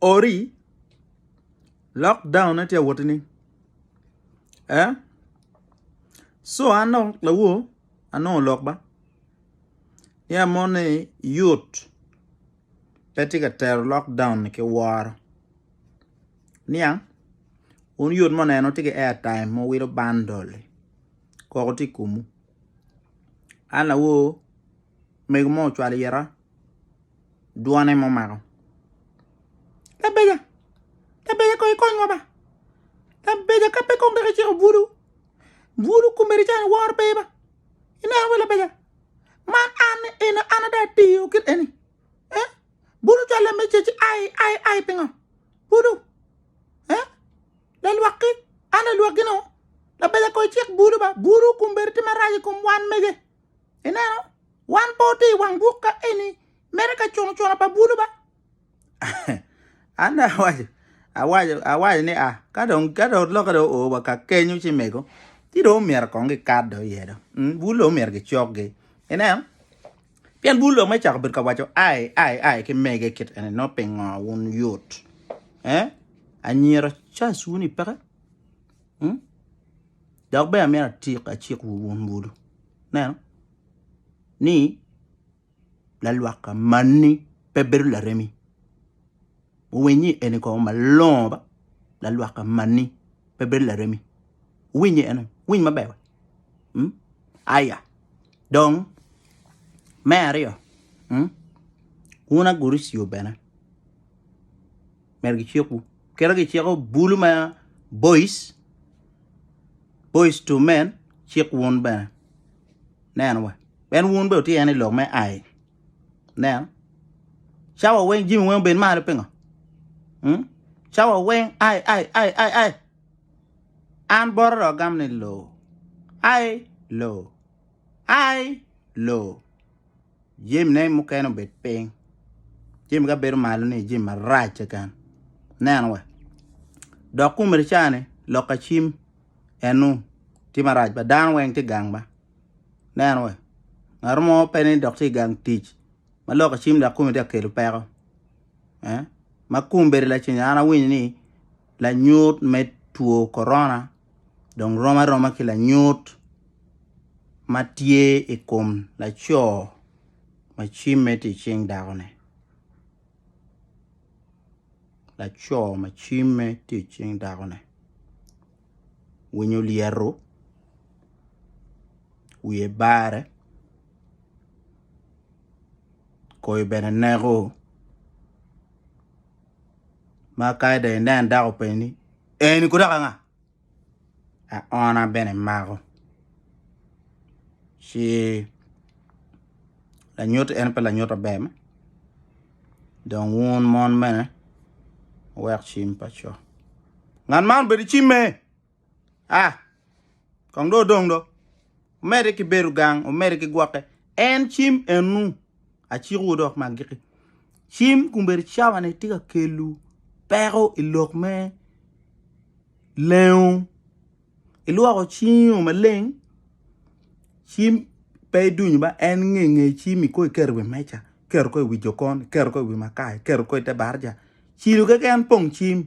ori lock down ne tye ka wotini ee co an dong lawor anongo lok ba ya moni yot pe tye ka tero lock down ni ki woro niang wun yot ma oneno tye ki airtime ma wilo bandol-li koko tye i komu an lawor mego mo ocwalo ita dwone ma omako. Labeja, labeja kong ikonywa ba. Labeja ka pe kong dok iciko bulu, bulu kumeri cani woro pe ba. Ineno ba labeja, man an eno an ada atiyo kit eni. Eh? Bulu calo lame ce ci ai, ai, ai pingo? Bulu. Eh? Lalwakki, an lalwakki no. Labeja kong icik bulu ba. Bulu kumeri ti marac i kom wan mege. Ineno, wan pe watye i wang buk ka eni mere ka cunucuna pa bulu ba. An dong awaco, awaco, awaco ni a, ka dong ka dong lokke dong oo wa ka kenyo ci mego, ci dong omyero kong gikat dong iye dong. Mm, bulu dong omyero gicokgi. Ineno? Pien bulu dong me cako bedo ka waco ai ai ai ki mege kit eni no pingo wun yot. Eh? Anyira cas wun ipeke? Dok bene amito atik acik wu wun wulu neno ni lalwaka manni pe bedo laremi wuwiny ni eni kong malongo ba lalwaka manni pe bedo laremi wuwiny ni eno winy maber wa mm? aya dong me aryo mm? wun aguricio bene Myero gicikwu. Kit ma giciko bulu ma boys, boys to men, cik wun bene. Neno wa. Ben wun bene wutye en i lok me ai. Neno. Cawa weng, jimi weng obed malo pingo. Hmm? Cawa weng, ai, ai, ai, ai, ai. An boro do agam ni lo. Ai, lo. Ai, lo. Jemine mukene obed piny, jemi ka bedo malo ni jemi marac keken. Nen wa. Dok kum ricani lok acim enu tye marac ba dano weng tye gang ba. Nen wa. Ngato mo pe ni dok tye gang tic ma lok acim dok kumi tye kelo peko. Eh? Ma kum bedo lacen an awinyo ni lanyut me two corona dong rom aroma ki lanyut ma tye i kom laco ma cimme tye i cing dakone. Laco ma cimme tye i cing dakone winyo olyeto wiye bare koyo bene neko. ma ka dong inen dako openyi ni eni kono dok anga aona bene emako ci lanyut en pe lanyut maber me dong wun mon bene wuwek cim pa co ngat man obed ki cimme. A. Kong do odong do, omedde ki bedo gang, omedde ki gwokke. En cim ennu, acikowu dok ma agikki, cim kun bedo cawane tye ka kelu peko i lok me lengo. Ilwoko cingo maleng, cim pe idunyo ba en nge nge cim ikoy iketo i wi meja, iketo ko i wi jokon, iketo ko i wi makar, iketo ko i te barija. Cilo keken pong cim,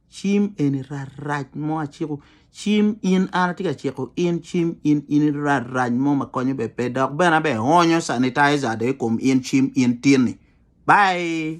Cim eni rarac mo aciko cim in an atye ka ciko in cim in in rarac mo ma konyo be pe dok bene abe onyo sanitizer do i kom in cim in tin-ni. Bye.